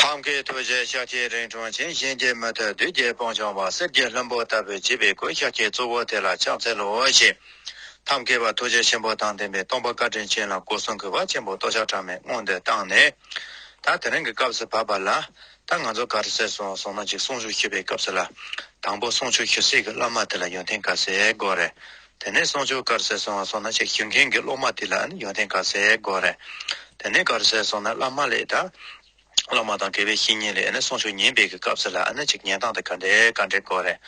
ཐབས་མཁས་ཐུགས་རྗེའི་ཤཱ་ཀྱའི་རིང་ཁྲོ་ཆེན་གཤིན་རྗེ་མུ་ཐུད་བདུད་རྒྱལ་སྤང་བྱང་བ་གསེར་གྱི་ལྷུན་པོ་ལྟ་བུའི་བྱིས་པའི་སྐུའི་ཤཱ་ཀྱའི་གཙོ་བོ་དེ་ལ་ཕྱག་འཚལ་ལོ་ཞེས། ཐབས་མཁས་པ་ཐུགས་རྗེ་ཆེན་པོ་དང་ལྡན་པའི་སྟོང་པ་བཀའ་དྲིན་ཅན་ལ་སྐུ་གསུང་གི་བ་ཆེན་པོ་ཏོག་ཞག་གྲངས་མེད་བསྔོ་འདོན་བཏང་ནས། ད་དེ་རིང་གི་སྐབས་སུ་བབས་པ་ལ། ད་ང་ཚོ་ག་རེ་ཟེར་སོང་གསུངས་ན་གཅིག་གསུང་ཆོས་ཞུ་བའི་སྐབས་སུ་ལ། དང་པོ་གསུང་ཆོས་ཞུ་སྲིད་ཀྱི་བླ་མ་དེ་ལ་ཡོན་ཏན་ག་ཟེ་དགོས་རེད། དེ་ནས་གསུང་ཆོས་དཀར་གསལ་སོང་བ་སོང་ན་ཆེ་ཞུ་མཁན་གྱི་སློབ་མ་དེ་ལའང་ཡོན་ཏན་དཀར་གསལ་དགོས་རེད། དེ་ནས་དཀར་གསལ་སོང་ན་བླ་མ་ལས་དང། སློབ་མ་དང་དགེ་བའི་བཤེས་གཉེན་ལས་གསུང་ཆོས་ཉན་སྤེལ་གྱི་སྐབས་སུ་ལའང་ཆེ་ཉན་སྟངས་དེ་ག་འདྲའི་དཀའ་འགྲེལ་དགོས་རེད།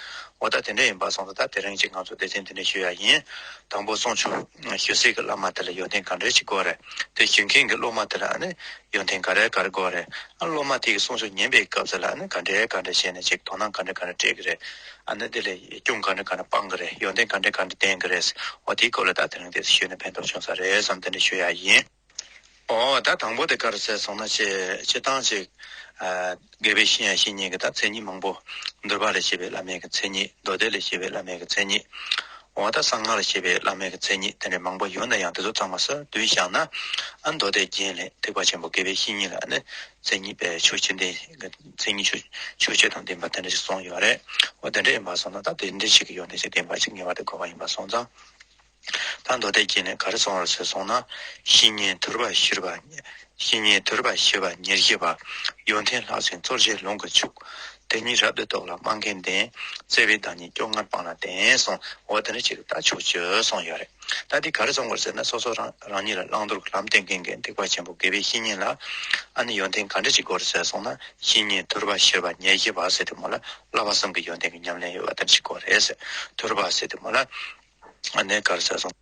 འོ་ད་དེ་འདྲ་ཡིན་པ་སོང་ད་ད་དེ་རིང་གཅིག་ང་ཚོ་སྡེ་ཚན་འདི་ནས་ཞུ་ཡག་ཡིན། དང་པོ་གསུང་ཆོས་ཞུ་སའི་གི་བླ་མ་དེ་ལ་ཡོན་ཏན་ག་འདྲའི་ཞིག་དགོས་རེད། དེ་ཞུ་མཁན་གྱི་སློབ་མ་དེ་ལའང་ཡོན་ཏན་ག་རེ་ག་རེ་དགོས་རེད། ཨ་སློབ་མ་དེ་གྱི་གསུང་ཆོས་ཉན་སྤེལ་གྱི་སྐབས་སུ་ལའང་ག་འདྲའི་ག་འདྲའི་བྱས་ནས་ཅིག་དོ་སྣང་ག་འདྲ་ག་འདྲ་སྤྲད་ཀྱི་རེད། ཨ་ནི་དེ་ལས་སྐྱོན་ག་འདྲ་ག་འདྲ་སྤང་གི་རེད་ཡོན་ཏན་ག་འདྲ་ག་འདྲ་ལྡན་གི་རེད་འོ་དེའི་སྐོར་ལ་ད་དེ་རིང་དེ་ཤོད་ནས་ཕན་ཐོག་བྱུང་ས་རེད་བསམ་དེ་འདྲ་ཤོད་ཡག་ཡིན། འོ་ད་དང་པོ་དེ་ག་རེ་ཟེར་སོང་ན་ཆེ་ཆེ་ཐང་ཅིག་རྒས་པའི་ཤིང་ཡང་བཤིག་ཉེན་གི་ད་མཚན་ཉིད་མང་པོ་འདུལ་བ་ལས་བྱེད་པའི་བླ་མེད་ཀྱི་མཚན་ཉིད་མདོ་སྡེ་ལས་བྱེད་པའི་བླ་མེད་ཀྱི་མཚན་ཉིད་འོ་ད་གསང་སྔགས་ལས་བྱེད་པའི་བླ་མེད་ཀྱི་མཚན་ཉིད་དེ་འདྲ་མང་པོ་ཡོད་ན་ཡང་དེ་ཚོ་ཚང་མ་ས་བདུན་བཞག་ན་ཨ་མདོ་སྡེ་རྒྱན་ལས་ཐེག་པ་ཆེན་པོ་རྒས་པའི་བཤིག་ཉེན་ལ་ཨ་ནི་མཚན་ཉིད་པའི་ཆོས་ཅི་འདི་མཚན་ཉིད་ཆོས་ཆོས་དང་ལྡན་པ་དེ་འདྲ་ཞིག་སོང་ཡོད་པ་རེད། འོ་དེ་འདྲ་ཡིན་པར་སོང་ན་ད་དེ་འདྲ་ཞིག་གི་ཡོང་ཐེངས་ཤིག་བདེན་པ་ཞིག་ངེས་པར་དུ་དགོས་པ་ཡིན་པར་སོང་ཙང། ད་མདོ་སྡེ་བརྒྱད་ནས་ག་རེ་སོང་བར་ཟོས་སོང་ན། བཤེས་གཉེན་དོལ་པ་ཤིར་བ། བཤེས་གཉེན་དོལ་པ་ཤིར་བ་ཉེར་བཞི་པ། ཡོན་ཏན་ལྷག་བྱིན་གཙོར་བྱས་ལུང་གི་ཕྱུག། དེ་གཉིས་རབ་ཏུ་བདོག་ལ་སྨྲ་མཁན་ལྡན། བརྩེ་བའི་བདག་ཉིད་སྐྱོ་ངར་སྤངས་ལ་ལྡན་སོང་འོ་དེ་འདྲ་ཞིག་གི་ད་ཆོས་ཆོས་སོང་ཡོད་རེད། ད་འདི་གར་བཙོང་དགོས་ཟེར་ན་སོ་སོ་རང་རང་ཉིད་ལ་བླང་དོར་གྱི་ལམ་བསྟན་མཁན་གྱི་སྡིག་པ་ཆེན་པོ་དགེ་བའི་བཤེས་གཉེན་ལ། ཨ་ནི་ཡོན་ཏན་ག་འདྲ་ཞིག་དགོས་རེད་ཟེར་སོང་ན་བཤེས་གཉེན་དུར་བ་ཤེར་བ་ཉེ་བཞི་བ་སྲས་དེ་མོ་ལ་བླ་བ་གསུམ་གྱི་ཡོན་ཏན་གྱི་ཉམས་ལེན་ཡོད་པ་དེ་འདྲ་ཞིག་དགོས་རེད་ཟེར་དུར་བ་སྲས་དེ་མོ་ལ། ཨ་ནི་ག་རེ་ཟེར་སོང།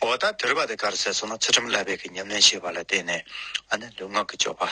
འོ་ད་དུར་བ་དེ་ག་རེ་ཟེར་སོང་ན་ཚུལ་ཁྲིམས་བསླབ་པའི་གྱི་ཉམས་ལེན་ཤེས་པ་ལ་བརྟེན་ནས་ཨ་ནི་ལུས་ངག་གི་སྤྱོད་པ།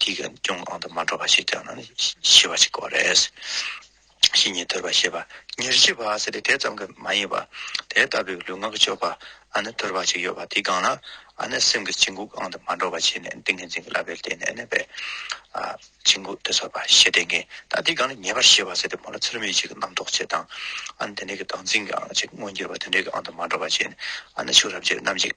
གྱི་ཀྱང་གང་དུ་མ་འགྲོ་བ་ཞིག་ཀྱང་ན་ཤི་བ་ཞིག་གོ་རེས་ཤི་ཉེས་དོར་བ་ཤེས་པ་ཉེར་ཤི་བ་ཟེར་ཏེ་དེ་ཙམ་གྱི་མ་ཡིན་པར་དེ་ལྟ་བུའི་ལུས་ངག་གཅོད་པ་ཨ་ནི་དོར་བ་ཞིག་ཡོད་པ་དེ་གང་ན་ཨ་ནི་སེམས་ཀྱི་བྱིང་རྒོད་གང་དུ་མ་འགྲོ་བ་ཞིག་ནས་ཏིང་ངེ་འཛིན་གྱི་བསླབ་པའི་རྟེན་ནས་གནས་པའི་བྱིང་རྒོད་དེ་སོལ་བ་ཞེས་ཏེ་ངེས་ད་དེ་གང་ན་ཉེས་པར་ཤི་བ་ཟེར་ཏེ་མོ་ལ་ཚུལ་མིན་ཞིག་གི་རྣམ་རྟོག་བྱེད་དང་ཨ་ནི་དེ་འདྲའི་གི་བདག་འཛིན་གྱི་ཅིག་མངོན་གྱུར་པ་དེ་འདྲའི་གི་ཨང་དུ་མ་འགྲོ་བ་ཞིག་ནས་ཨ་ནི་ཕྱུགས་རབ་ཅིག་ནམ་ཞིག།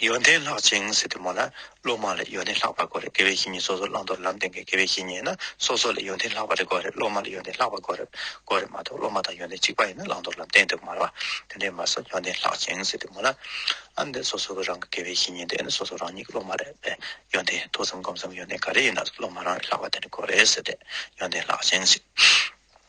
ཡོན་ཏན་ལྷག་ཅིང་སྲིད་དུ་མོ་ན་ལོ་མ་ལ་ཡོན་ཏན་ལྷག་པར་གོ་རེ་དགེ་བའི་བཤེས་གཉེན་སོ་སོར་བླང་དོར་ལམ་བསྟན་གྱི་དགེ་བའི་བཤེས་གཉེན་ན་སོ་སོ་ལ་ཡོན་ཏན་ལྷག་པར་གོ་རེ་སློབ་མ་ལ་ཡོན་ཏན་ལྷག་པར་གོ་རེ་གོ་རེ་མ་གཏོགས་སློབ་མ་དང་ཡོན་ཏན་གཅིག་པ་ཡིན་ན་བླང་དོར་ལམ་བསྟན་དུ་མ་རུང་བ་དེ་འདྲའི་མ་གསུངས་ཡོན་ཏན་ལྷག་ཅིང་སྲིད་དུ་མོ་ན་ཨ་འདི་སོ་སོ་གི་རང་གི་དགེ་བའི་བཤེས་གཉེན་དེ་ནི་སོ་སོ་རང་ཉིད་ཀྱི་སློབ་མ་རེད་པས་ཡོན་ཏན་མཐོ་ཙམ་སྒོམ་ཙམ་ཡོན་ཏན་ག་རེ་ཡིན་ན་སློབ་མ་རང་ལས་ལྷག་པ་དེ་འདྲ་གོ་རེ་ཟེར་ཏེ་ཡོན་ཏན་ལྷག་ཅིང་སྲིད།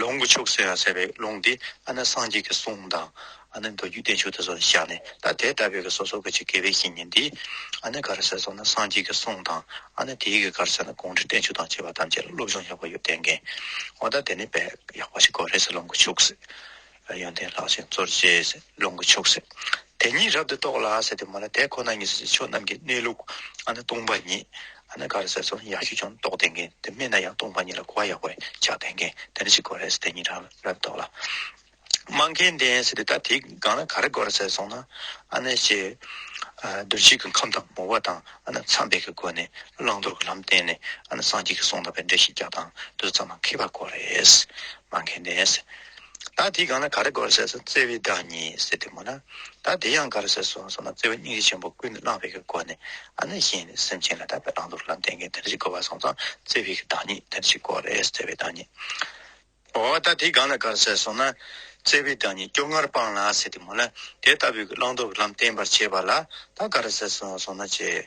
ལུང་གི་ཕྱུགས་ཟེར་བ་རེད་ལུང་འདི་ཨ་ན་སངས་རྒྱས་ཀྱི་གསུང་དང། ཨ་ན་མདོ་རྒྱུད་བསྟན་ཕྱུག་དེ་ཚོ་བཞག་ནས་ད་དེ་ལྟ་བུའི་གི་སོ་སོ་གི་ཆེ་གེ་བའི་བཤེས་གཉེན་འདིས། ཨ་ན་ག་རེ་ཟེར་སོང་ན་སངས་རྒྱས་ཀྱི་གསུང་དང། ཨ་ན་དེའི་གི་ག་རེ་ཟེར་ན་གུང་ཁྲི་བསྟན་ཕྱུག་དང་བཅས་པ་ཐམས་ཅད་ལ་སློབ་སྦྱོང་ཡག་པོ་ཡོད་བསྟན་མཁན། འོ་ད་དེ་ནི་དཔེ་ཡག་པོ་ཞིག་གོ་རེད་ཟེར་ལུང་གི་ཕྱུགས་ཟེར། ཡོན་ཏན་ལྷག་ཅིང་གཙོར་བྱས། ལུང་གི་ཕྱོགས་སུ་དེ་ཉིད་རབ་ཏུ་རྟོགས་ལ། ཟེར་དུ་མ་ལ་དེ་ཁོ་ན་ཉིད་ཕྱོགས་རྣམས་ཀྱི་གནས་ལུགས། སྟོང་པ་ཉིད། ག་རེ་ཟེར་སོགས་ཡང་ཞིག་ཀྱང་རྟོགས་ལྡན་མཁན་དེ་སྨྲས་ན་ཡང་སྟོང་པ་ཉིད་ལ་གོ་བ་ཡག་པར་ཆགས་ལྡན་མཁན་དེ་འདྲ་ཞིག་གོ་རེ་ཟེར་དེ་ཉིད་རང་རབ་རྟོགས་ལ། སྨྲ་མཁན་ལྡན་ཟེར་དུས་ད་དེའི་སྒང་ལ་ག་རེ་གོ་རེ་ཟེར་སོང་ན། དོན་གཅིག་གི་ཁམས་དང་ངོ་བོ་དང་མཚམས་སྦས་ཀྱི་སྒོ་ནས་བླང་དོར་གྱི་ལམ་བསྟན་ནས་སངས་རྒྱས་ཀྱི་གསུང་དང་བའི་འགྲེལ་བཤད་རྒྱག་དང་དུ་ཙམ་མ་ཁེལ་བར་གོ་རེ། སྨྲ་མཁན་ལྡན་ཟེར། བདག་དེ་གང་ན་ག་རེ་དགོས་ཟེར་སོང་བརྩེ་བའི་བདག་ཉིད་ཟེར་དུས་མོ་ན་བདག་དེ་ཡང་ག་རེ་ཟེར་སོང་སོང་ན་བརྩེ་བའི་སྙིང་རྗེ་ཆེན་པོ་ཀུན་ཏུ་བླངས་པའི་གི་སྒོ་ནས་ཨ་ནི་གཞན་ནི་སེམས་ཅན་ལ་དག་པའི་བླང་དོར་ལམ་བསྟན་མཁན་དེ་འདྲ་ཞིག་དགོས་པར་སོང་ཙང་བརྩེ་བའི་གི་བདག་ཉིད་དེ་འདྲ་ཞིག་དགོས་རེད་བརྩེ་བའི་བདག་ཉིད། འོ་བདག་དེ་གང་ན་ག་རེ་ཟེར་སོང་ན་བརྩེ་བའི་བདག་ཉིད་སྐྱོ་ངར་སྤངས་ལ་ཟེར་དུས་མོ་ན་དེ་ལྟ་བུའི་གི་བླང་དོར་ལམ་བསྟན་པར་བྱེད་པ་ལ་བདག་ག་རེ་ཟེར་སོང་སོང་ན་བྱེད་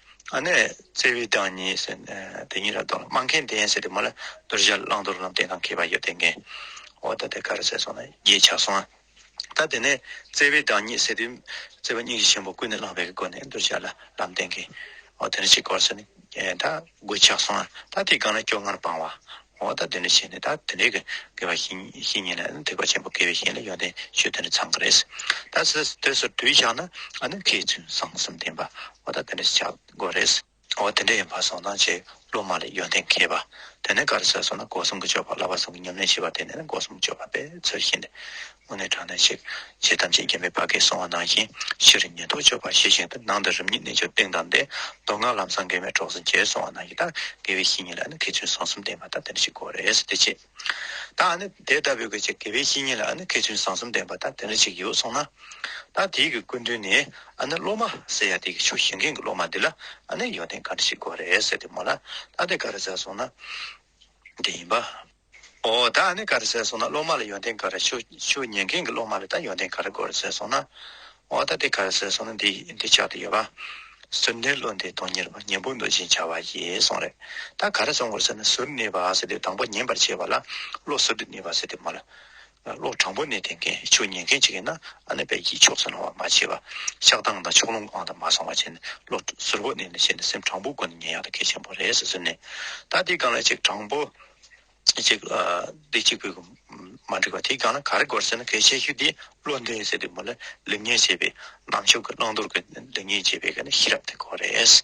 ཨ་ནེ། བརྩེ་བའི་བདག་ཉིད། དེ་གཉིས་ར་དོགས་ལ་སྨྲ་མཁན་བདེན་ཟེར་ཏེ་མོ་ལ་དོར་བཞག་བླང་དོར་ལམ་བདེན་དང་མཁས་པ་ཡོད་བསྟན་མཁན། འོ་ད་དེ་ག་རེ་ཟེར་སོང་ན་རྒྱས་ཆགས་སོང་ཨ། ད་དེ་ནས་བརྩེ་བའི་བདག་ཉིད་ཟེར་ཏེ། བརྩེ་བ་སྙིང་རྗེ་ཆེན་པོ་ཀུན་ནས་བསླངས་པའི་སྒོ་ནས་དོར་བཞག་ལ་ལམ་བསྟན་མཁན། འོ་དེ་ནས་ཕྱི་སྐོར་ཟེར་ནས་ད་དགོད་ཆགས་སོང་ཨ། ད་དེའི་སྒང་ལ་སྐྱོ་ངར་སྤང་བ། འོ་ད་འདི་འདྲ་བྱས་ནས་ད་དེ་འདྲའི་གི་དགེ་བ་ཤིས་ཉེས་ལ་ཐེག་པ་ཆེན་པོ་དགེ་བའི་བཤེས་ལ་ཡོན་ཏན་ཆོས་དེ་འདྲ་ཚང་གི་རེད་ཟེར་ད་ཟེར་དེ་སོར་དུས་ཤག་ན་ཨ་ནུ་ཁྱེད་ཚོས་བཟང་གསུམ་བསྟན་པ་འོ་ད་དེ་འདྲ་བྱ་དགོས་རེད་ཟེར། འོ་དེ་འདྲ་ཡིན་པ་སོང་ན་ཆེས་སློབ་མ་ལ་ཡོན་ཏན་མཁས་པ་དེ་ནས་ག་རེ་ཟེར་སོང་ན་སྒོ་གསུམ་གྱི་སྤྱོད་པ་བསླབ་པ་སོགས་ཀྱི་ཉམས་ལེན་བྱེད་པ་དེ་ནས་ན་སྒོ་གསུམ་སྤྱོད་པ་པའི་ཚུལ་བཞིན་ཏེ་དངོས་གནས་དྲང་གནས་ཆེ། ཆེས་ཐམས་ཅད་མཁྱེན་པའི་བར་གས་གསུངས་བ་ནང་བཞིན་ཕྱི་རུ་ཉན་ཐོས་སྤྱོད་པ་ཤེས་བཞིན་དུ་ནང་དུ་རིམ་གཉིས་རྣལ་འབྱོར་སྟེང་དང་འདས་མདོ་སྔགས་ལམ་སངས་རྒྱས་མའི་གྲོགས་སུ་མཇལ་གསུངས་བ་ནང་བཞིན་ལྟར་དགེ་བའི་བཤེས་གཉེན་ལ་ནི་ཁེ་ཚུན་བཟང་གསུམ་ལྡན་པ་ལྟར་དེ་འདྲ་ཞིག་དགོས་རེད་དེ་ཆེ། ད་ནི་དེ་ལྟ་བུའི་གྱི་དགེ་བའི་བཤེས་གཉེན་ལ་ནི་ཁེ་ཚུན་བཟང་གསུམ་ལྡན་པ་ལྟར་དེ་འདྲ་ཞིག་ཡོད་གསུངས་ན། ད་དེའི་གི་ཀུན་དོན་ནི་ཨ་ནི་སློབ་མ་ཟེར་ཡ་དེའི་གི་ཆོས་ཤེས་མཁན་གྱི་སློབ་མ་འདི་ལ་ཨ་ནི་ཡོན་ཏན་ག་འདྲ་ཞིག་དགོས་རེད་ཟེར་དེ་མོ་ལ་ད་དེ་ག་རེ་ཟེར་གསུངས་ན། དེ་ཡིན་པ། འོ་ད་ནི་ག་རེ་ཟེར་སོང་ན་སློབ་མ་ལ་ཡོན་ཏན་ག་རེ་ཆུ་ཆུ་ཉན་མཁན་གྱི་སློབ་མ་ལ་ད་ཡོན་ཏན་ག་རེ་དགོས་རེ་ཟེར་སོང་ན། འོ་ད་དེ་ག་རེ་ཟེར་སོང་ན་འདི་འདི་ཆགས་ཏེ་ཡོད་པ། ཟུར་སྣེའི་བློ་འདི་སྟོང་ཉེར་བ་ཉིན་པོ་འདུག་ཅིང་བྱ་བ་ཡིས་སོང་རེད་ད་ག་རེ་སོང་དགོས་ཟེར་ན་ཟུར་སྣེའི་བ་ཟེར་དེ་དང་པོ་ཉན་པར་བྱེད་པ་ལ་བློ་ཟུར་དུ་གནས་པ་ཟེར་དེ་མ་ལ། ལོ་དྲང་པོ་ནས་དེ་འགན་ཆོས་ཉན་མཁན་ཅིག་ཡིན་ན་ཨ་ནེ་པད་ཀྱིས་ཕྱོགས་སུན་སྣང་བ་མ་བྱས་པར་ཆགས་སྡང་དང་ཕྱོགས་ལྷུང་ཨང་དང་མ་སངས་བ་བྱས་ནས་བློ་གཟུར་བོ་གནས་ནས་བཤད་ནས་སེམས་དྲང་པོ་སྒོ་ནས་ཉན་ཡག་ལ་གལ་ཆེན་པོ་རེད་ཟེར་ནས་ད་དེའི་སྒང་ལ་ཅིག་དྲང་པོ་ཅིག་འདི་གཅིག་པུས་མ་འགྲིག་པ་དེའི་སྒང་ལ་ག་རེ་དགོས་ཟེར་ན་གལ་ཆེ་ཤོས་དེ་བློ་འདས་ཟེར་དུས་མོ་ལ་ལེགས་ཉེས་འབྱེད་པའི་ནང་ཆོས་ཀྱི་བླང་དོར་གྱི་ལེགས་ཉེས་འབྱེད་པའི་གནས་ཤེས་རབ་དེ་དགོས་རེད།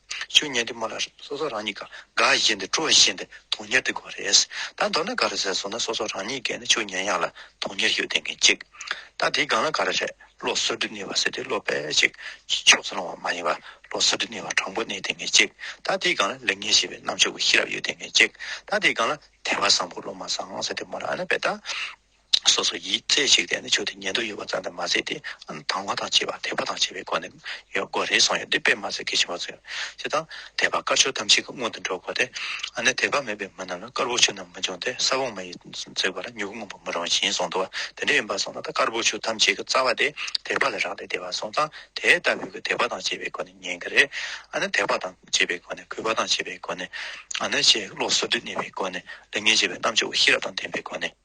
ཆོས་ཉན་དུས་མོ་ལ་སོ་སོ་རང་ཉིད་ག་ག་བཞིན་དུ་སྤྲོ་བཞིན་པའི་དོན་གཉེར་ཏེ་དགོས་རེད། ད་མདོར་ན་ག་རེ་ཟེར་སོང་ན་སོ་སོ་རང་ཉིད་གས་ནི་ཆོས་ཉན་ཡག་ལ་དོན་གཉེར་ཞིག་ལྡན་མཁན་ཅིག། ད་དེའི་སྒང་ལ་ག་རེ་རེད་བློ་གསོལ་སྒྲིབ་གནས་པ་ཟེར་དུས་བློ་དཔེ་ཞིག་ཕྱོགས་སུ་སློང་བ་མ་ཡིན་པར་བློ་གསོལ་སྒྲིབ་གནས་པ་དྲང་པོ་གནས་ལྡན་མཁན་ཅིག། ད་དེའི་སྒང་ལ་ལེགས་ཉེས་ཤེས་པའི་རྣམ་དཔྱོད་ཀྱི་ཤེས་རབ་ཡོད་ལྡན་མཁན་ཅིག། ད་དེའི་སྒང་ལ་དད་པ་བཟང་པོ་བློ་མ་བཟང་ཟེར་དུས་མོ་ལ་ཨ་ན་བས་ད། སོ་སོ་ཡིས་རྩེ་གཅིག་བསྡད་ནས་ཆོས་དེ་ཉན་འདོད་ཡོད་པ་ཙམ་དང་མ་ཟད་དེ་དང་བ་དང་བྱེད་པ་དད་པ་དང་བྱེད་པའི་སྒོ་ནས་ཡོད་སྒོ་རེ་ཟུང་ཡོད་འདི་དཔེ་མ་ཟད་གལ་ཆེན་པོ་ཚོས་ཅི་དང། དད་པ་དཀར་ཕྱོགས་ཐམས་ཅད་ཀྱི་སྔོན་དུ་འགྲོ་དགོས་ཏེ། ནི་དད་པ་མེད་པའི་མི་རྣམས་ལ་དཀར་པོ་ཆོས་རྣམས་མི་འབྱུང་སྟེ་ས་བོན་མ་ཡིས་བཙོས་པ་ལ་མྱུ་གུ་སྔོན་པོ་མི་རུང་ཞིང་གསུངས་འདུག་དེ་འདྲ་ཡིན་པར་སོང་ན་ད་དཀར་པོ་ཆོས་ཐམས་ཅད་ཀྱི་རྩ་བ་དེ་དད་པ་ལ་རག་ལས་དད་པ་སོང་ཙང་དེ་ལྟ་བུའི་གི་དད་པ་དང་བྱེད་པའི་སྒོ་ནས་ཉན་གི་རེད། ནི་དད་པ་དང་བྱེད་པའི་སྒོ་ནས་གུས་པ་དང་བྱེད་པའི་སྒོ་ནས། ནི་ཆེས་བློ་གསོ་སྡུད་གནས་པའི་སྒོ་ནས་ལས་ངན་བྱེད་པའི་རྣམ་དཔྱོད་ཤེས་རབ་དང་ལྡན་པའི་སྒོ་ནས།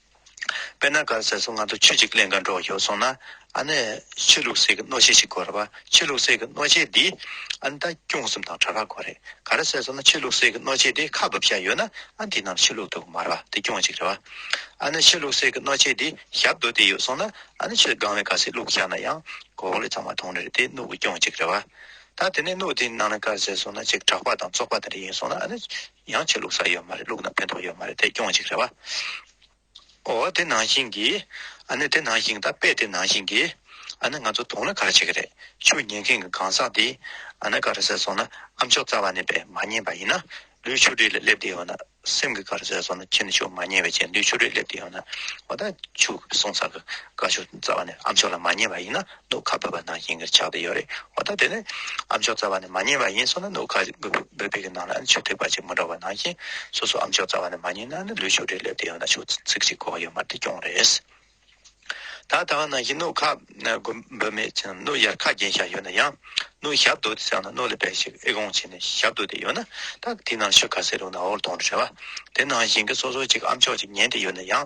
དཔེར་ན་གར་ཟེར་སོང་ང་ཚོ་ཆོས་ཅིག་གླེང་ག་འགྲོ་ཞོག་སོང་ན། ཨ་ནི། ཆོས་ལུགས་སྲས་ཀྱི་གནོད་བྱེད་ཞིག་གོ་རེད་བ། ཆོས་ལུགས་སྲས་ཀྱི་གནོད་བྱེད་འདིས། ཨ་ནི་ད་སྐྱོང་གསུམ་དང་གྲྭ་བ་གོ་རེད། གར་ཟེར་སོང་ན་ཆོས་ལུགས་སྲས་ཀྱི་གནོད་བྱེད་འདིས་ཁ་བབས་བཞག་ཡོད་ན། ཨ་ནི་འདི་རྣམས་ཆོས་ལུགས་དུ་མ་རེད་བ་དེ་སྐྱོང་ཅིག་རེད་བ། ཨ་ནི་ཆོས་ལུགས་སྲས་ཀྱི་གནོད་བྱེད་འདིས་ཞབས་རྡོ་དེ་ཡོད་སོང་ན། ཨ་ནི་ཆོས་སྒང་བས་གར་སྲས་བླུག་བཞག་ན་ཡང། གོ་ལེ་ཚང་མ་ཐོང་རེད་དེ་གནོད་དགོས་སྐྱོང་ཅིག་རེད་བ། ད་དེ་ནས་གནོད་དེ་ནང་ན་གར་ཟེར་སོང་ན་ཅིག་གྲགས་པ་དང་ཙོག་པ་དེ་འདྲ་ཡིན་སོང་ན་ཨ་ནི། ཡང་ཆོས་ལུགས་ས་ཡོད་མ་རེད་ལུགས་ན་ཕན་ཐོག་ཡོད་མ་རེད་དེ་སྐྱོང་ཞིག་རེད་བ། ཨོ་དེ་ནང་བཞིན་གྱི། ཨ་ནི་དེ་ནང་བཞིན་ད་དཔེ་དེ་ནང་བཞིན་གྱི། ཨ་ནི་ང་ཚོ་དུང་ལ་ག་རེ་བྱེད་ཀྱི་རེད་ཆུ་ཉན་མཁན་གྱི་གང་ཟག་འདི། ཨ་ནི་ག་རེ་ཟེར་སོང་ན་ཨ་མཆོག་རྩ་བ་ནས་པས་མ་ཉན་པ་ཡིན་ན། ལུས་ཆུ་རིས་ལ་སླེབས་དེ་ཡོང་ན། སེམས་ཀྱི་ག་རེ་ཟེར་སོང་ན་ཁྱེད་ནི་ཆུ་མ་ཉན་བས་ཁྱེད་ལུས་ཆུ་རིས་སླེབས་དེ་ཡོང་ན། ཨོ་ད་ཆུ་གསུང་ས་གི། ག་ཆུ་རྩ་བ་ནས་ཨ་མཆོག་ལ་མ་ཉན་པ་ཡིན་ན། ནུ་ཁ་འབོད་པ་ནང་བཞིན་གྱི་ཆགས་ཏེ་ཡོད་རེད་འོ་ད་དེ་ནི་ཨ་མཆོག་རྩ་བ་ནས་མ་ཉན་པ་ཡིན་སོང་ན་ནུ་ཁ་འབོད་པའི་གི་ནང་ལ་ཆུ་ཐིགས་པ་ཅིག་མི་འགྲོ་བ་ནང་བཞིན་སོ་སོ་ཨ་མཆོག་རྩ་བ་ནས་མ་ཉན་ན་ནི་ལུས་ཤུགས་དྲིལ་སླེབས་ཏེ་ཡོང་ན་ཆུ་ཚིགས་ཅིག་གོག་ཡོད་མ་དེ་སྐྱོང་རེད། ད་ལྟ་བ་ནང་བཞིན་ནུ་ཁ་འབོད་མེད་ཅིང་ནུ་ཡར་ཁ་རྒྱན་བཞག་ཡོད་ན་ཡང་ནུ་ཞབས་བསྡུ་དེ་བསགས་ན་ནུ་ལ་བལ་ཞིག་ཨི་གོང་བྱས་ནས་ཞབས་བསྡུ་དེ་ཡོད་ན་ད་དེ་ནང་ཆུ་ཁ་སེར་རུང་ན་འོར་དོང་རེད་བ་དེ་ནང་བཞིན་གྱི་སོ་སོ་ཅིག་ཨ་མཆོག་ཅིག་ཉན་དེ་ཡོད་ན་ཡང་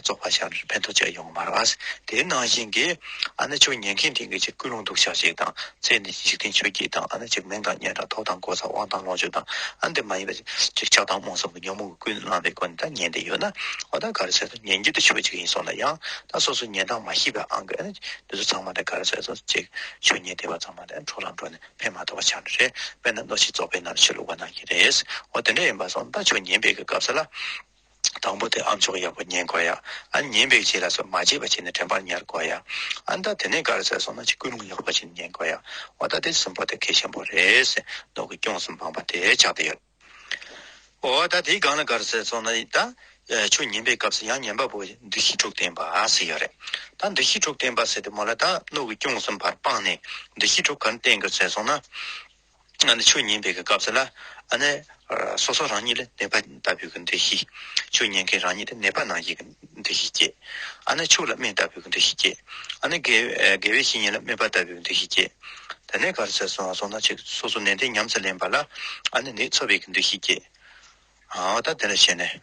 རྫོགས་པར་བྱ་བའི་ཕན་ཐོགས་ཅི་ཡོང་མར་བར། དེ་ནང་བཞིན་གྱི། ཨ་ནི་ཆོས་ཉན་མཁན་དེ་གཉིས་ཀྱི་སྐུ་རླུང་འདུག་ཤག་ཅིག་དང་ཚེ་འདི་འཇིག་རྟེན་ཆོས་བརྒྱད་དང་ཨ་ནི་འཇིག་མིང་དང་གཉེན་དང་ཐོབ་དང་གོ་ས་དབང་དང་ལོངས་སྤྱོད་དང་ཨ་འདི་མ་ཡིན་པ་ཅིག་ཆགས་སྡང་རྨོངས་གསུམ་གྱི་ཉོན་མོངས་ཀྱི་ཀུན་སློང་བའི་སྒོ་ནས་ད་ཉན་དེ་ཡོད་ན་འོ་ད་ག་རེ་བྱས་སོ་ཉན་རྒྱུ་དེ་ཆོས་གཅིག་ཡིན་སོང་ན་ཡང་ད་སོ་སོའི་ཉན་སྟངས་མ་ཤེས་པའི་ཨང་ཀི་ཨ་ནི་འདི་ཚོ་ཚང་མ་ད་ག་རེ་བྱས་སོ་ཅིག་ཆོས་ཉན་དེ་བ་ཚང་མ་ད་འཕྲོ་ལམ་འགྲོ་ནས་ཕན་མ་ཐོགས་པ་ཆགས་ནི་རེད་དཔེར་ན་གནོད་བྱེད་རྫོགས་པའི་ནང་ཆོས་ལུགས་པ་ནང་གི་རེད་འོ་དེ་འདྲ་ཡིན་པ་སོང་ད་ཆོས་ཉན་པའི་གི་སྐབས་ས་ལ། དང་པོ་དེ་ཨ་མཆོག་ཡག་པོ་ཉན་དགོས་ཡ། ཨ་ཉན་པའི་རྗེས་ལ་སོགས་མ་བརྗེད་པ་བྱས་ནས་དྲན་པར་ཉར་དགོས་ཡ། ཨ་མདའ་དེ་ནས་ག་རེ་བྱས་སོང་ན་ཅིག་སྐུལ་སློང་ཡག་པོ་བྱས་ནས་ཉན་དགོས་ཡ། འོ་ད་དེ་གསུམ་པོ་དེ་གལ་ཆེན་པོ་རེད། ནོར་གྱི་སྐྱོང་གསུམ་སྤངས་པ་དེ་ཆགས་བསྡད་ཡོད། འོ་ད་དེའི་སྒང་ལ་ག་རེ་བྱས་སོང་ན་ད་ཆོས་ཉན་པའི་སྐབས་སུ་ཡང་ཉན་པ་པོ་འདུ་ཤེས་དྲུག་བསྟན་པ་ཟེར་ཡོད་རེད། ད་འདུ་ཤེས་དྲུག་བསྟན་པ་ཟེར་ཏེ་མོ་ལ་ད་ནོར་གྱི་སྐྱོང་གསུམ་བར་སྤངས་ནས་འདུ་ཤེས་དྲུག་ག་རེ་བསྟན་དགོས་བྱས་སོང་ན། ཆོས་ཉན་པའི་སྐབས་སུ་ལ། སོ་སོ་རང་ཉིད་ལ་གནས་པ་ལྟ་བུའི་འདུ་ཤེས་སྐྱེ། ཆོས་ཉན་མཁན་རང་ཉིད་ལ་གནས་པ་ནང་བཞིན་གྱི་འདུ་ཤེས་སྐྱེ། ཕྱུགས་ལ་སྨན་ལྟ་བུའི་འདུ་ཤེས་སྐྱེ། དགེ་བའི་བཤེས་གཉེན་ལ་སྨན་པ་ལྟ་བུའི་འདུ་ཤེས་སྐྱེ། ད་ནི་གར་སོང་ན་སོང་ན་ཅིག་སོ་སོ་ནན་ཏན་ཉམས་སུ་ལེན་པ་ལ། ནི་འཚོ་བའི་འདུ་ཤེས་སྐྱེ། ད་དེ་ལ་ཞེན་ནས།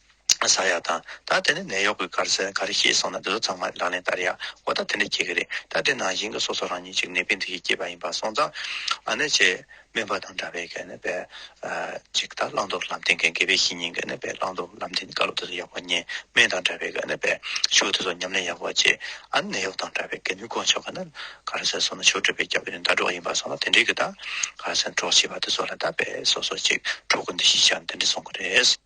ཟ་ཡག་དང། ད་དེ་ནས་ནད་གཡོག་གི་དཀར་ཟས་ག་རེ་ཤེས་སོང་ན་དེ་ཚོ་ཚང་མ་རང་ལས་བསྟར་ཡག་འོ་ད་དེ་འདྲ་གྱི་གི་རེད་ད་དེ་ནང་བཞིན་གྱི་སོ་སོ་རང་ཉིད་ཅིག་ནད་པའི་འདི་གྱིས་སྐྱེས་པ་ཡིན་པ་སོང་ཙང་ཨ་ནེ་ཆེ་སྨན་པ་དང་འདྲ་བའི་ག་ནི་བའི་ཅིག་ད་བླང་དོར་ལམ་སྟེང་གི་དགེ་བའི་བཤེས་གཉེན་ག་ནི་བའི་བླང་དོར་ལམ་སྟེང་དཀའ་སློབ་དེ་ཚོ་ཡག་པོ་ཉན་སྨན་དང་འདྲ་བའི་ག་ནི་བའི་ཆུ་དེ་ཚོ་ཉམས་ལེན་ཡག་པོ་བྱེད་ཨ་ནི་ནད་གཡོག་དང་འདྲ་བའི་ག་ནི་དཀོན་མཆོག་ག་ནི་ག་རེ་ཟེར་སོང་ན་ཆོས་སྒྲུབ་པའི་སྐྱབས་ཀྱི་ནི་ཟླ་གྲོགས་ཡིན་པ་སོང་ན་དེ་འདྲའི་གི་ད་ག་རེ་ཟེར་གྲོགས་བྱེད་པ་དེ་ཚོ་ལ་ད་བའི་སོ་སོ་ཅིག་གྲོགས་གི་འདི་ཤེས་བྱ་ནི་དེ་འདྲ་སོང་གི་རེད།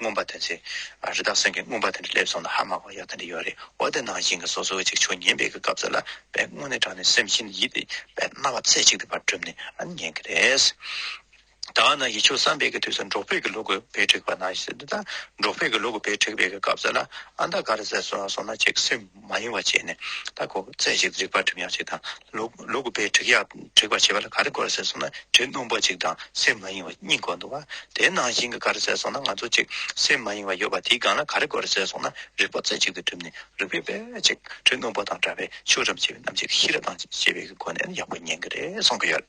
མངོན་པར་དོན་ཚེ། རི་དྭགས་སོན་གྱི་མངོན་པར་དོན་འདི་སླེབས་སོང་ན་ཧ་མ་གོ་ཡག་དོན་འདི་ཡོད་རེད་འོ་དེ་ནང་བཞིན་གྱི་སོ་སོའི་ཅིག་ཆོག་ཉན་པའི་གི་སྐབས་སུ་ལ་བས་སྔོན་ནས་དྲངས་ནས་སེམས་བཞིན་ཡིད་བདེ་བའི་རྣ་བ་ཚེ་གཅིག་དུ་བར་གྲུབ་ནས་ཨ་ནི་ཉན་གྱི་རེད། ད་ང་ཡིད་ཆོས་བསམ་པའི་གི་དུས་སུ་འབྲོག་ཕས་གི་ལུག་གི་བེ་བྲེག་པ་ན་ཤི་ད་འབྲོག་ཕས་གི་ལུག་གི་བེ་བྲེག་པའི་གི་སྐབས་སུ་ལ་ཨ་མདའ་ག་རེ་བཟས་སོང་ན་ཅིག་སེམས། མ་ཡིན་བ་བཅས་ནི་ལྟ་གོ། རྩེ་གཅིག་ཏུ་རིག་པར་བསྒྲིམ་ཡང་གཅིག་དང། ལུགས་ལུགས་པའི་དྲེགས་ཡག་དྲེགས་པར་བྱེད་པ་ལ་ག་རེ་དགོས་ཟེར་སོང་ན་དྲེགས་སྣོམ་པོ་གཅིག་དང་སེམས་མ་ཡེངས་བ་གཉིས་དགོས་འདུག་བ། དེའི་ནང་བཞིན་གྱི་ག་རེ་ཟེར་སོང་ན་ང་ཚོ་གཅིག་སེམས་མ་ཡེངས་བ་ཡོད་པ་དེའི་སྒང་ལ་ག་རེ་དགོས་ཟེར་སོང་ན་རིག་པ་རྩེ་གཅིག་ཏུ་བསྒྲིམ་ནས་རིག་པའི་དཔེ་གཅིག་དྲེགས་སྣོམ་པོ་དང་འདྲ་བས་ཆོས་ཐམས་ཅད་རྣམ་འབྱེད་ཀྱི་ཤེས་རབ་དང་བཅས་པའི་སྒོ་ནས་ཡག་པོ་ཉན་གྱི་རེད་གསུང་གི་ཡོད།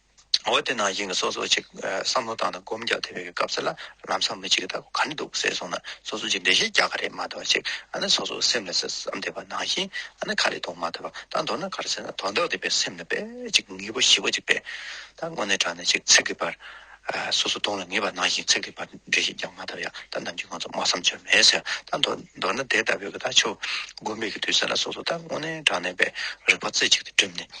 འོ་དེ་ན་ཡིན་གྱི་སོ་སོ་གཅིག་བསམ་བློ་བཏང་ན་སྒོམ་རྒྱག་ཐུབ་ཡོད་གི་སྐབས་ཚེ་ལ་ལམ་སང་མི་གཅིག་གི་ལྟ་སྒོ་ག་ནས་འདུག་ཟེར་སོང་ན་སོ་སོ་གཅིག་འགྲེལ་བཤད་རྒྱག་ག་རེད་མ་ཐོག་ཅིག་ཨ་ནི་སོ་སོ་སེམས་ལ་ཟེར་བསམ་བསྡད་པ་ནང་བཞིན་ཨ་ནི་ག་རེ་དོག་མ་ཐོག་པ་ད་མདོར་ན་ག་རེ་ཟེར་ན་དོག་འདོག་བསྡད་པའི་སེམས་ལ་དཔེ་གཅིག་ངེས་པོ་ཞི་བ་གཅིག་དཔེ་ད་དངོས་གནས་དྲང་ནས་ཅིག་ཚིག་གི་བར་སོ་སོ་དོག་ལ་ངེས་པ་ནང་བཞིན་ཚིག་གི་བར་འགྲེལ་བཤད་རྒྱག་མ་ཐོག་ཡ་ད་ནམ་གྱི་ང་ཚོ་མ་བསམ་བྱར་མེད་ཟེར་ད་མདོར་ན་དེ་ལྟ་བུའི་གི་ད་ཆོས་སྒོམ་མེད་གི་དུས་ཟེར་ན་སོ་སོ་ད་དངོས་གནས་དྲང་གནས་པའི་རིག་པ་རྩེ་གཅིག་ཏུ་བསྒྲིམས་ནས།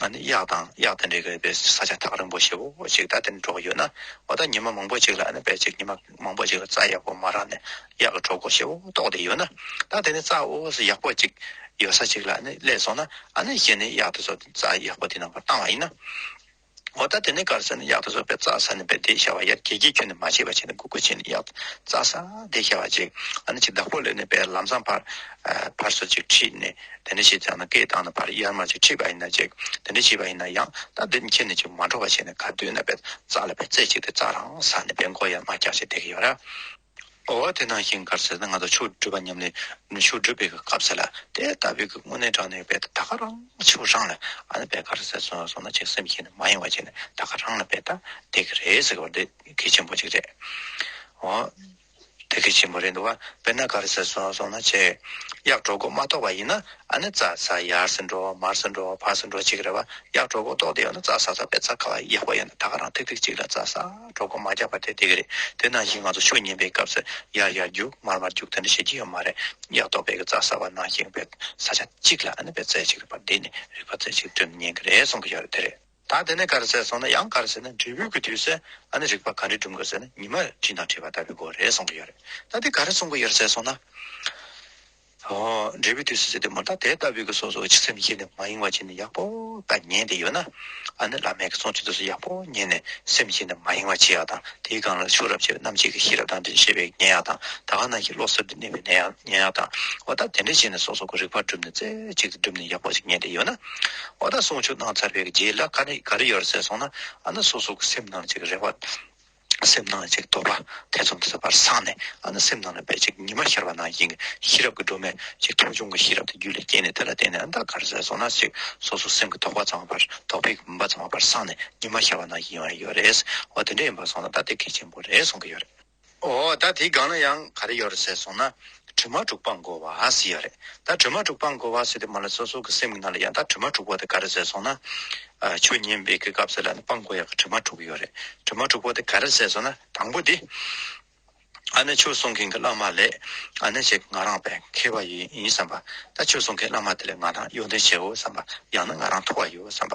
གཡག་དང་གཡག་དང་འདྲེ་ག་པའི་ས་ཆ་ཐག་རིང་པོ་ཞེ་བོ་ཞིག་ད་དེ་འདྲ་འགྲོ་གི་ཡོད་ན་འོ་ད་ཉི་མ་མང་པོ་ཞིག་ལ་བལ་ཆིག་ཉི་མ་མང་པོ་ཞིག་ལ་རྩྭ་ཡག་པོ་མ་རག་ནས་གཡག་གི་གྲོགས་པོ་ཞེ་བོ་ལྟོགས་བསྡད་ཡོད་ན་ད་དེ་ནས་རྩྭ་འོ་ཟི་ཡག་པོ་ཅིག་ཡོད་ས་ཅིག་ལ་བསླེབས་སོང་ན་ཨ་ནི་གཞི་ནས་གཡག་དེ་ཚོ་རྩྭ་ཡག་པོ་དེ་ནང་པར་བཏང་བ་ཡིན་ན། ངོ་ད་དེ་ནས་དཀར་ས་ནི་གཡག་ཏུ་སོགས་པའི་རྩྭ་ས་ནི་བེ་དེ་ཤ་བ་ཡར་གྱེས་ཀྱིས་ཁྱོད་ནི་མ་བྱེད་པ་བྱེད་ནས་གུ་གུ་བྱེད་ནས་གཡག་རྩྭ་ས་དེ་ཤ་བ་ཅིག་ཨ་ནི་ཅིག་བདག་པོ་ལས་ནི་བེ་ལམ་སྲང་བར་བར་སོ་ཅིག་ཁྲིད་ནས་དེ་འདྲ་བྱེད་ཅག་ན་སྐེ་བཏང་ན་བར་གཡར་མར་ཅིག་ཁྲིད་པ་ཡིན་ན་ཅིག་དེ་འདྲ་བྱེད་པ་ཡིན་ན་ཡང་ད་འདི་ནི་ཁྱེད་ནི་ཅིག་མ་འགྲོ་བ་བྱེད་ནས་ག་དུས་ན་བེ་རྩྭ་ལ་བེ་རྩེ་ཅིག་དེ་རྩྭ་རང་ས་ནི་བེ་མགོ་ཡར་མར་བཀྱག་ཅིག་དེ་གི་ཡོ་ར། འོ་དེ་ནང་བཞིན་གར་ཟེར་ན་ང་ཚོ་ཆོས་སྒྲུབ་པ་ཉམས་ལེན་ཆོས་སྒྲུབ་པའི་སྐབས་ཟེར་ལ་དེ་ལྟ་བུའི་སྐུ་དངོས་གནས་དྲངས་ནས་དཔེ་ད་ག་རང་ཆོས་རང་ལ་ཨ་ནི་དཔེ་ག་རེ་ཟེར་སོང་སོང་ན་ཅིག་སེམས་ཤེས་ནས་མ་ཡེངས་བ་བྱས་ནས་ད་ག་རང་ལ་དཔེ་ད་དེ་ག་རེ་ཟེར་བ་འདི་གལ་ཆེན་པོ་ཅིག་རེད་འོ་དེ་གལ་ཆེན་པོ་རེད་འདུག་བ་དཔེ་ན་ག་རེ་ཟེར་སོང་སོང་ན་ཆེ་གཡག་གྲོག་མགོ་མ་གཏོགས་པ་ཡིན་ན་ཨ་ནི་རྩྭ་ས་ཡར་སེ་འགྲོ་མར་སེ་འགྲོ་ཕར་སེ་འགྲོ་ཅིག་རེད་བ་གཡག་གྲོག་མགོ་གཏོགས་དེ་ཡོད་ན་རྩྭ་ས་ས་པའི་རྩྭ་ཁ་བ་ཡག་པོ་ཡོད་ན་ད་ག་རང་ཐིག་ཐིག་ཅིག་ལ་རྩྭ་ས། གྲོགས་པོ་མ་རྒྱག་པ་དེ་དེ་རེད་དེ་ནང་བཞིན་ང་ཚོ་ཆོས་ཉན་པའི་སྐབས་སུ་ཡར་ཡར་རྒྱུག་མར་མར་རྒྱུག་དེ་འདྲ་བྱེད་ཀྱི་ཡོད་མ་རེད་ཡག་ཐོག་བོད་ཀྱི་རྩྭ་ས་བ་ནང་བཞིན་བོད་ས་ཆ་གཅིག་ལ་བོད་རྩལ་གཅིག་རིག་པ་འདི་ནི་རིག་པ་རྩལ་གཅིག་བསྐྲུན་ཉན་གྱི་རེད་གསུང་གི་ཡོད་རེད་དེ་རེད། ད་དེ་ནས་ག་རེ་བྱས་སོང་ན་ཡང་ག་རེ་བྱས་ན་འབྲས་བུའི་གི་དུས་སུ་རིག་པ་ག་འདྲས་སྒྲུབ་དགོས་ཟེར་ན་ཉི་མ་བྲིས་དང་བྲིས་པ་ལྟ་བུའི་སྒོ་རེད་གསུང་གི་ཡོད་རེད་ད་དེ་ག་རེ་གསུང་གི་ཡོད་རེད་བྱས་སོང་ན། འབྲས་བུའི་དུས་སུ་ཟད་དེ་མུ་མཐའ་དེ་ལྟ་བུའི་སོ་སོའི་ཕྱི་སེམས་ཤེས་ནས་མ་ཡེངས་པར་བྱས་ནས་ཡག་པོ་དག་ཉན་དེ་ཡོད་ན། ཨ་ནི་བླ་མའི་གསུང་བཅུ་དུས་སུ་ཡག་པོ་ཉན་ནས་སེམས་ཤེས་ནས་མ་ཡེངས་པར་བྱས་ཡག་དང་དེའི་སྒང་ལ་ཕྱུགས་རབ་བྱེད་རྣམ་འབྱེད་ཀྱི་ཤེས་རབ་དང་འདྲེས་ཤེས་པས་ཉན་ཡག་དང་ད་ག་ནང་གི་བློ་གསར་དུ་གནས་པས་ཉན་ཡག་དང་བ་ད་དེ་འདྲ་བྱས་ནས་སོ་སོ་གོ་རིག་པར་བསྒྲུབས་ནས་རྩེ་གཅིག་ཏུ་བསྒྲུབས་ནས་ཡག་པོ་ཞིག་ཉན་དེ་ཡོད་ན། བ་ད་གསུང་ཆོས་གནང་ཚར་བའི་རྗེས་ལ་ག་རེ་ག་རེ་ཡོད་རེད་ཟེར་སོང་ན་ཨ་ནི་སོ་སོ་གོ་སེམས་ནང་བྱེད་ཀྱི་རེ་བ། སེམས་སྣང་ལ་ཅིག་དོར་བ་ཐེ་ཚོམ་བཟོད་པར་སངས་ནས་ཨ་ན་སེམས་སྣང་ལ་བས་ཅིག་ཉི་མ་ཤར་བ་ན་དབྱིངས་ཀྱི་ཤེས་རབ་ཀྱི་སྒྲོན་མས་ཅིག་ཐོ་ཆུང་གི་ཤེས་རབ་དེ་རྒྱུད་ལ་སྐྱེས་ནས་དེ་ལ་བརྟེན་ནས་ཨ་མདའ་གར་ཟས་སོང་ན་ཅིག་སོ་སོའི་སེམས་ཀྱི་དོགས་པ་ཙམ་བ་བར་དོགས་པའི་མུན་པ་ཙམ་བ་བར་སངས་ནས་ཉི་མ་ཤར་བ་ན་དབྱིངས་ཨ་ཡོད་རེད་ཨོ་དེ་འདྲ་ཡིན་པར་སོང་ན་ད་དེ་གལ་ཆེན་པོ་རེད་གསུང་གི་ཡོད་རེད། ཨོ་ད་དེའི་སྒང་ན་ཡང་ག་རེ་ཡོད་རེད་ཟས་སོང་ན། དྲི་མ་དྲུག་སྤངས་དགོས་བ་སི་ཡ་རེད་ད་དྲི་མ་དྲུག་སྤངས་དགོས་བ་སི་དེ་མ་ལ་སོ་སོ་གི་སེམས་གི་ནང་ལ་ཡང་དག་དྲི་མ་དྲུག་བ་དེ་ག་རེ་ཟེར་སོང་ན། ཆོས་ཉན་པའི་གི་སྐབས་སི་ལ་ནི་སྤངས་དགོས་ཡ་གི་དྲི་མ་དྲུག་ཡོད་རེད་དྲི་མ་དྲུག་བ་དེ་ག་རེ་ཟེར་སོང་ན་དང་པོ་དེ། ཨ་ནི་ཆོས་གསུང་མཁན་གི་བླ་མ་ལས་ཨ་ནི་བྱེད་ང་རང་བས་མཁས་བ་ཡིན་བསམ་པ་ད་ཆོས་གསུང་མཁན་བླ་མ་དེ་ལས་ང་རང་གཡོ་འདོན་བྱེད་འོས་བསམ་པ་ཡང་ན་ང་རང་མཐོ་བ་ཡོད་བསམ་པ་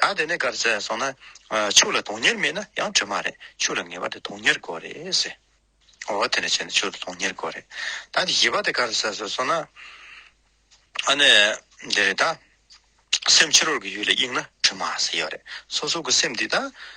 ད་དེ་ནས་དགར་བྱས་སོང་ན། ཕྱུགས་ལ་དོན་གཉེར་མེད་ན་ཡང་དྲི་མ་རེད། ཕྱུགས་ལ་ངེས་པ་དེ་དོན་གཉེར་དགོས་རེད་ཟེར། འོ་དེ་ནས་བྱས་ནས་ཕྱུགས་ལ་དོན་གཉེར་དགོས་རེད། ད་དེ་བཞི་པ་དེ་དགར་བྱས་སོང་ན། ཨ་ནི་འདི་རེད་ད། སེམས་ཕྱི་རོལ་གྱི་ཡུལ་ལ་དབྱུང་ན་དྲི་མ་ཟེར་ཡོད་རེད། སོ་སོ་གི་སེམས་འདི་ད།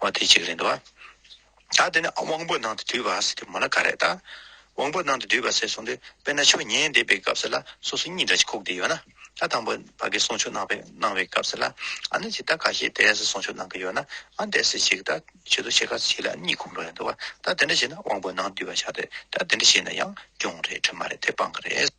བ་དེ་གཅིག་རེད་འདུག་ད་དེ་ནས་དབང་པོ་ནང་དུ་འདུས་པ་ཟེར་དུས་མོ་ན་ག་རེད་ད། དབང་པོ་ནང་དུ་འདུས་པ་ཟེར་སོང་དུས་དཔེར་ན་ཆོས་ཉན་འདེབས་པའི་སྐབས་ལ་སོ་སོ་གཉིས་འདྲ་གཅིག་ཁུག་བསྡད་ཡོད་ན་ད་དང་པོ་ཕ་གིས་གསུང་ཆོས་གནང་པའི་གནང་བའི་སྐབས་ལ་ཨ་ནི་ཇི་ལྟར་ག་ཞེས་དེ་སྲིད་གསུང་ཆོས་གནང་གི་ཡོད་ན་ཨ་འདས་སྲིད་ཅིག་ད་ཆོས་དུ་ཆེ་ཁག་ཅིག་ལ་གཉིས་ཁུག་འགྲོ་ཡོད་འདུག་ད་དེ་འདྲ་བྱས་ན་དབང་པོ་ནང་འདུས་པ་ཆགས་ཏེ་ད་དེ་འདྲ་བྱས་ན་ཡང་སྐྱོང་རེད་དྲི་མ་རེད་དེ་སྤང་གི་རེད།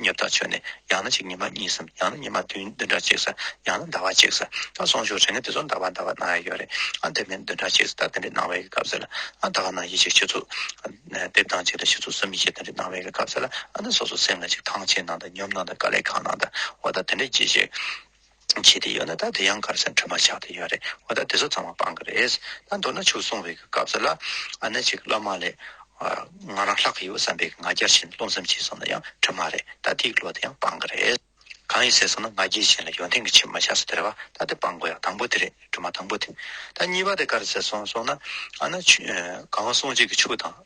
ཉོབ་ཐག་ཆོད་ནས་ཡང་ན་གཅིག་ཉི་མ་གཉིས་སམ་ཡང་ན་ཉི་མ་བདུན་བདུན་ཕྲག་གཅིག་སམ་ཡང་ན་ཟླ་བ་གཅིག་སམ་ད་སོང་ཞོག་དྲན་ནས་དེ་ཚོ་འདའ་བ་འདའ་བ་གནང་ཡ་ཡོད་རེད་ཨ་དེ་མིན་བདུན་ཕྲག་གཅིག་ད་དེ་འདྲའི་གནང་བའི་སྐབས་ཟེར་ལ་ཨ་ད་ག་ནང་ཡིད་ཆེས་ཤི་ཚུལ་ཨ་དེབ་ཐང་གཅིག་དང་ཤི་ཚུལ་གསུམ་ཡིད་ཆེས་དེ་འདྲའི་གནང་བའི་སྐབས་ཟེར་ལ་ཨ་ནི་སོ་སོ་སེམས་ལ་གཅིག་ཐང་ཆེན་གནང་དང་ཉོབ་གནང་དང་དཀའ་ལས་གང་གནང་དང་འོ་ད་དེ་འདྲའི་གྱིས་ཤིག། བྱས་ཏེ་ཡོད་ན་ད་དེ་ཡང་དཀར་ཆ་འཕྲུལ་མ་ཆགས་ཏེ་ཡོད་རེད་འོ་ད་དེ་ཚོ་ཚང་མ་སྤང་གི་རེད། ད་མདོར་ན་ཆུ་སྲུང་བའི་གི་སྐབས་སུ་ལ་ཨ་ནེ་ཅིག་སློབ་མ་ལས། ང་རང་ལྷག་གི་ཡོད་བསམ་པའི་གི་ང་རྒྱལ་བཞིན་རློམ་སེམས་བྱས་སོང་ན་ཡང་འཕྲུལ་མ་རེད་ད་དེའི་གི་ལོ་དེ་ཡང་སྤང་གི་རེད། གང་ཡིན་ཟེར་སོང་ན་ང་རྒྱལ་བཞིན་ལ་ཡོན་ཏན་གི་ཆེད་མ་ཆགས་སོ་དེ་རེད་བ་ད་དེ་སྤང་དགོས་ཡ་དང་པོ་དེ་རེད་འཕྲུལ་མ་དང་པོ་དེ། ད་གཉིས་པ་དེ་དཀར་ཟེར་སོང་སོང་ན་ཨ་ནེ་ཆུ་གང་སྲུང་བྱེད་གི་ཆུ་དང།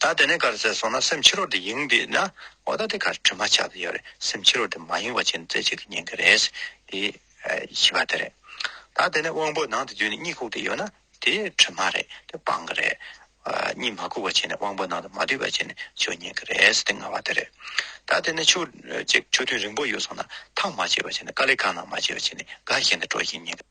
ད་དེ་ནས་གར་ཟེར་སོང་ན་སེམས་ཕྱི་རོལ་དུ་ཡེངས་དུས་ན་འོ་ད་དེ་གར་དྲི་མ་ཆགས་དུ་ཡོད་རེད་སེམས་ཕྱི་རོལ་དུ་མ་ཡེངས་པ་བྱས་ན་རྩེ་གཅིག་གིས་ཉན་གི་རེད་དེ་བཞི་པ་དེ་རེད། ད་དེ་ནས་དབང་པོ་ནང་དུ་འཇུས་ནས་གཉིད་ཁུག་དུ་ཡོད་ན་དེ་དྲི་མ་རེད་དེ་སྤང་གི་རེད། གཉིད་མ་ཁུག་པ་བྱས་ནས་དབང་པོ་ནང་དུ་མ་སྡུད་པ་བྱས་ནས་ཆོས་ཉན་གི་རེད་དེ་ལྔ་བ་དེ་རེད། ད་དེ་ནས་ཆུ་གཅིག་ཆུ་ཐུན་རིང་པོ་ཡོད་སོང་ན་ཐག་མ་བཅད་པ་བྱས་ནས་དཀའ་ལས་ཁ་ནང་མ་བྱས་པ་བྱས་ནས་དགའ་ཞེན་དུ་འགྲོ་ཞིང་ཉན་གི་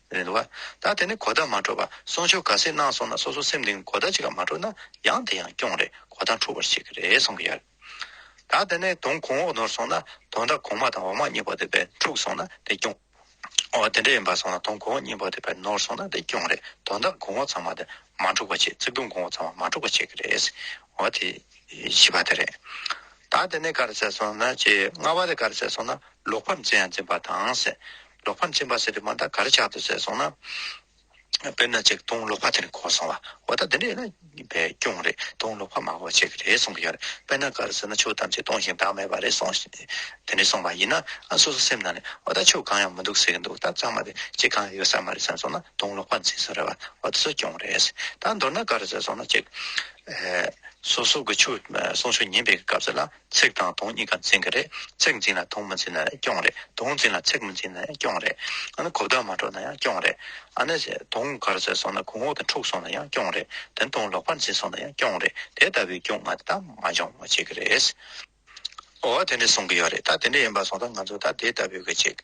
རེད་བ། ད་དེ་ནི་གོ་བརྡ་མ་འཕྲོད་པར་གསུང་ཆོས་ག་སེ་གནང་སོང་ན་སོ་སོ་སེམས་གཏིང་གོ་བརྡ་ཅིག་ཀ་མ་འཕྲོད་ན་ཡང་དེ་ཡང་སྐྱོང་རེད་གོ་བརྡ་འཕྲོ་བར་བྱེད་ཀྱི་རེད་གསུང་གི་ཡོད། ད་དེ་ནི་དོང་གོང་འོག་ནོར་སོང་ན་དོང་འདྲ་གོང་མ་དང་འོག་མ་གཉིས་པོ་དེ་བས་འཁྲུག་སོང་ན་དེ་སྐྱོང། འོ་དེ་འདྲ་ཡིན་པ་སོང་ན་དོང་གོང་འོག་གཉིས་པོ་དེ་བས་ནོར་སོང་ན་དེ་སྐྱོང་རེད་དོང་འདྲ་གོང་འོག་ཚང་མ་དེ་མ་འཁྲུག་པར་བྱེད་ཙིག་དོང་གོང་འོག་ཚང་མ་མ་འཁྲུག་པར་བྱེད་ཀྱི་རེད། འོ་དེ་བྱིས་པ་དེ་རེད། ད་དེ་ནི་ག་རེ་བྱས་སོང་ན་ཅེས་རྔ་བ་དེ་ག་རེ་བྱས་སོང་ན་ལོག་པར་འཛིན་ཡང་འཛིན་པ་དང། ལོག་པར་འཛིན་པ་ཟེར་དུས་མ་མཐའ་གར་ཆགས་འདུག་ཟེར་སོང་ན། དཔེར་ན་ཅིག་དུང་ལོག་པ་དེ་ནི་གོ་སོང་བ་འོ་ད་འདི་འདྲ་ཡིན་ན་བའི་སྐྱོང་རེད་དུང་ལོག་པ་མང་བོ་བྱེད་ཀྱི་རེད་གསུང་གི་ཡོད་རེད་དཔེར་ན་གར་ཟེར་ན་ཆོས་ཐམས་ཅད་སྟོང་ཞིང་བདག་མེད་པ་རེད་གསུང་ཞེས་དེ་འདྲས་གསུང་བ་ཡིན་ན་ཨ་སོ་སོ་སེམས་ནང་ནས་འོ་ད་ཆོས་གང་ཡང་མི་འདུག་ཟེར་གྱི་འདུག་ད་ཚང་མ་དེ་ཅིག་གང་ཡང་ཡོད་ས་མ་རེད་བསམ་སོང་ན་དུང་ལོག་པ་འཛིན་ས་རེད་བ་འོ་ད་སོ་སྐྱོང་རེད། ད་མདོར་ན་གར་ཟེར་སོང་ན་ཅིག། སོ་སོ་གི་ཆོས་གསུང་ཆོས་ཉན་པའི་སྐབས་ཟེར་ན། ཚེག་དང་དུང་གཉིས་ཀ་འཛིན་གྱི་རེད། ཚེག་འཛིན་ལ་དུང་མི་འཛིན་ན་ཡང་སྐྱོང་རེད། དུང་འཛིན་ལ་ཚེག་མི་འཛིན་ན་ཡང་སྐྱོང་རེད། ཨ་ནི་གོ་བརྡ་མ་སྒྲོག་ན་ཡང་སྐྱོང་རེད། ཨ་ནི། དུང་གར་ཟད་སོང་ན་གོང་འོག་དང་འཁྲུག་སོང་ན་ཡང་སྐྱོང་རེད། དེ་ནི་དུང་ལོག་པར་འཛིན་སོང་ན་ཡང་སྐྱོང་རེད། དེ་ལྟ་བུའི་སྐྱོང་ང་དེ་དག་མ་སྦྱོང་བར་བྱེད་ཀྱི་རེད། འོ་དེ་འདྲས་གསུང་གི་ཡོད་རེད་ད་དེ་འདྲས་ཡིན་པ་སོང་ཙང་ང་ཚོས་ད་དེ་ལྟ་བུའི་གི་བྱེད།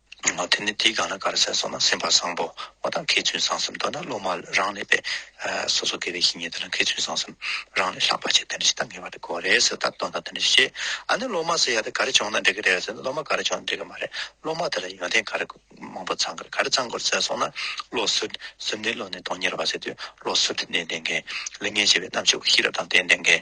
དེ་ནས་དེའི་སྒང་ལ་གར་ཟས་སོགས་ན་སེམས་དཔའ་བཟང་པོ་བ་དང་མཁས་བཙུན་བཟང་སེམས་མདོར་ན་སློབ་མ་རང་ལས་པས་སོ་སོ་དགེ་བའི་བཤེས་གཉེན་དང་མཁས་བཙུན་བཟང་སེམས་རང་ལས་ལྷག་པ་ཆེ་དེ་འདྲ་ཞིག་ད་ངེས་པར་དུ་དགོས་རེད་ཟེར་ད་དོན་དང་དེ་འདྲ་ཞིག་བྱེད་ཨ་ནི་སློབ་མ་སེ་ཡ་དེ་ག་རེ་བྱུང་ན་འགྲིག་གི་རེད་ཟེར་སློབ་མ་ག་རེ་བྱུང་ན་འགྲིག་གི་མ་རེད་སློབ་མ་དེ་ལ་ཡོན་ཏན་ག་རེ་མང་པོ་ཚང་དགོས་ག་རེ་ཚང་དགོས་ཟས་སོགས་ན་བློ་གསོལ་གསོལ་འདི་བློ་ནས་གཏོང་ཉེར་བ་ཟེར་དུས་བློ་གསོལ་འདི་ནས་ལྡན་མཁན་གླིང་ངན་བྱེད་པའི་རྣམ་དཔྱོད་ཀྱི་ཤེས་རབ་དང་ལྡན་ལྡན་མཁན།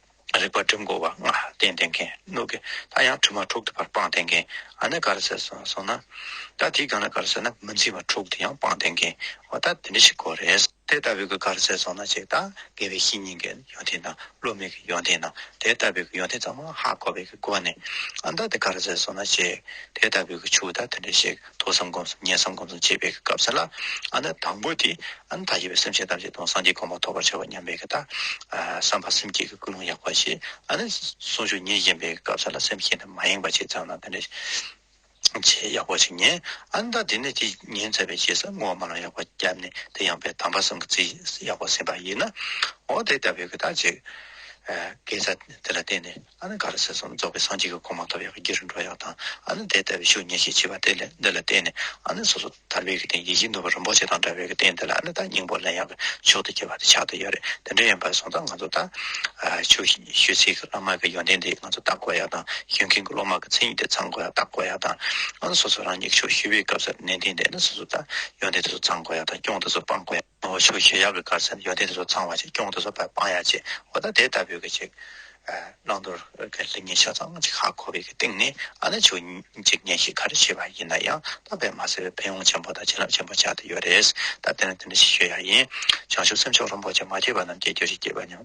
རེག་པར་སྒྲིབ་འགོག་བ་ལྔ་སྟེ་འདེབས་མཁན་གནོད་ཀྱི་ལྷ་ཡང་དྲི་མ་དྲུག་ཏུ་བར་སྤངས་བསྟེན་མཁན་ཨ་ནི་ག་རེ་ཟེར་སོང་ན། ད་དེའི་སྒང་ལ་ག་རེ་ཟེར་ན་མི་འཛིན་པ་དྲུག་ཏུ་ཡང་སྤངས་བསྟེན་མཁན་འོ་ད་དེ་འདྲ་ཞིག་གོ་རེད། དེ་ལྟ་བུའི་ག་རེ་ཟེར་སོང་ན་ཅིག་དང་དགེ་བའི་བཤེས་གཉེན་གྱི་ཡོན་ཏན་དང་བློ་མིག་གི་ཡོན་ཏན་དང་དེ་ལྟ་བུའི་ཡོན་ཏན་ཚང་མ་ཧ་གོ་བའི་སྒོ་ནས་ཨ་ད་དེ་ག་རེ་ཟེར་སོང་ན་ཅིག་དེ་ལྟ་བུའི་ཆུ་ད་དེ་འདྲ་ཞིག་ཐོས་བསམ་སྒོམ་གསུམ་ཉན་བསམ་སྒོམ་གསུམ་བྱེད་པའི་སྐབས་སེ་ལ་ཨ་ནི་དང་པོ་དེ་ཨ་ནི་ད་ཞེས་པའི་སེམས་ཅན་ཐམས་ཅད་དང་སངས་རྒྱས་གོང་མ་ཐོབ་པར་བྱ་བ་སྙམ་པའི་ཀི་ཏཱ། བསམ་པ་སེམས་བསྐྱེད་ཀྱི་ཀུན་སློང་ཡག་པ་ཞེས་ཨ་ནི་གསུང་ཆོས་ཉིད་ཉན་པའི་སྐབས་སེ་ལ་སེམས་བསྐྱེད་འདི་མ་ཡེངས་པར་བྱས་ཙམ་ན་དེ་འདྲའི་ཆེས་ཡག་པོ་ཞིག་ཉན་ཨ་ནི་ད་དེ་ནས་དེ་ཉན་ཚར་བའི་རྗེས་སུ་བསྔོ་བ་མ་ལ་ཡག་པ་བརྒྱབ་ནས་དེ་ཡངས་པའི་དམ་པ་གསུམ་གྱི་རྩིས་ཡག་པོ་ཟིན་པ་ཡིན་ནོ། འོ་དེ་ལྟ་བུའི་ཀི་ཏཱ་བྱེད། དགེ་རྩ་དེ་ལ་བརྟེན་ནས། ཨ་ནི་ག་རེ་ཟེར་སོང་རྫོགས་པའི་སངས་རྒྱས་ཀྱི་གོ་མ་ཐོབ་ཡང་སྐྱིད་རུ་འགྲོ་ཡག་དང་ཨ་ནི་དེ་ལྟ་བུའི་ཤུགས་ཉེས་ཤིག་མཆིས་པ་དེ་ལས་འདི་ལ་བརྟེན་ནས་ཨ་ནི་སོ་སོ་ཐར་པའི་གི་དེ་ཡིད་བཞིན་ནོར་བུ་རིན་པོ་ཆེ་དང་འདྲ་བའི་གི་དེ་འདི་ལ་ཨ་ནི་ད་སྙིང་པོ་ལན་ཡག་གི་མཆོག་ཏུ་གྱེས་པ་དེ་ཆགས་ཏུ་ཡོད་རེད་དེ་འདྲ་ཡིན་པར་སོང་ཙང་ང་ཚོ་ད་ཆུ་ཤུལ་ཚིག་གི་བླ་མ་གི་ཡོན་ཏན་དེ་ང་ཚོ་བརྟག་གོ་ཡག་དང་ཤུལ་མཁན་གི་སློབ་མ་གི་མཚན་ཉིད་དེ་ཚང་གོ་ཡག་བརྟག་གོ་ཡག་དང་ཨ་ནི་སོ་སོ་རང་ཉིད་ཀྱི་ཆུ་ཤུལ་བའི་སྐབས་སུ་ནན་ཏན་དེ་ཨ་ནི་སོ་སོ་ད་ཡོན་ཏན་དེ་ཚོ་ཚང་གོ་ཡག་དང་སྐྱོང་དེ་ཚོ་སྤང་གོ་ཡག། ནོར་བུ་ཆུ་ཞེས་གཡག་གི་དཀར་ཚ་ཡོ་དེ་དེ་ཚོ་ཚང་བ་ཅིག་སྐྱོང་དེ་ཚོ་བར་སྤང་ཡག་ཅིག་འོ་ད་དེ་ལྟ་བུའི་གི་ཅིག་བླང་དོར་གི་ལི་ཉིན་ཤ་ཚང་གཅིག་ཧ་གོ་བའི་གི་སྟེང་ནས་ཨ་ན་ཆུ་འཇིག་ཉེན་ཞིག་ག་རེ་བྱས་པ་ཡིན་ན་ཡང་ད་བས་མ་ཟེར་བའི་ཕན་ཡོང་ཆེན་པོ་དང་བྱིན་རླབས་ཆེན་པོ་ཆགས་དེ་ཡོད་རེད་ད་དེ་ནས་དེ་འདྲ་ཞིག་ཤོད་ཡག་ཡིན་བྱང་ཆུབ་སེམས་མཆོག་ལྷུན་པོ་ཅིག་མ་སྐྱེས་པ་རྣམས་སྐྱེ་རྒྱུ་ཞིག་སྐྱེས་པ་སྙམ།